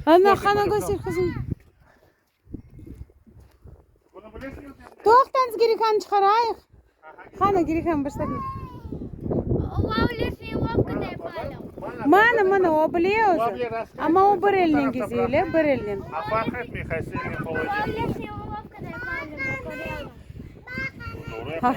Ana, qana göster qızım. Toqtanız girikanı çıqarayıq. Qana girikan bir satın. Mana, mana, o bile özü. Ama o bir elinen geziyor, le, bir elinen. Doğru yapar.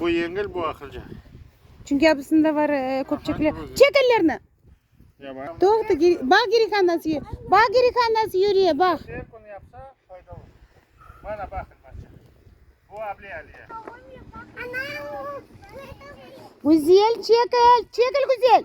Bu yengil, bu aqılca. Çünki abısında var köpçekli. Çek ellerni! Toqta, baq Girihan nasıl, baq Girihan nasıl yürüye, baq. Her kün yapsa faydalı. Mana baqın maşa. Bu Abli Aliye. Güzel, çekil, çekil Güzel.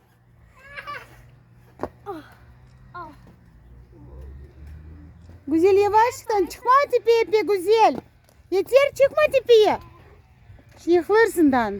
Güzel, yavaştan çıqma tepeyepe, Güzel! Yeter, çıqma tepeye! Şimdi yıqılırsından.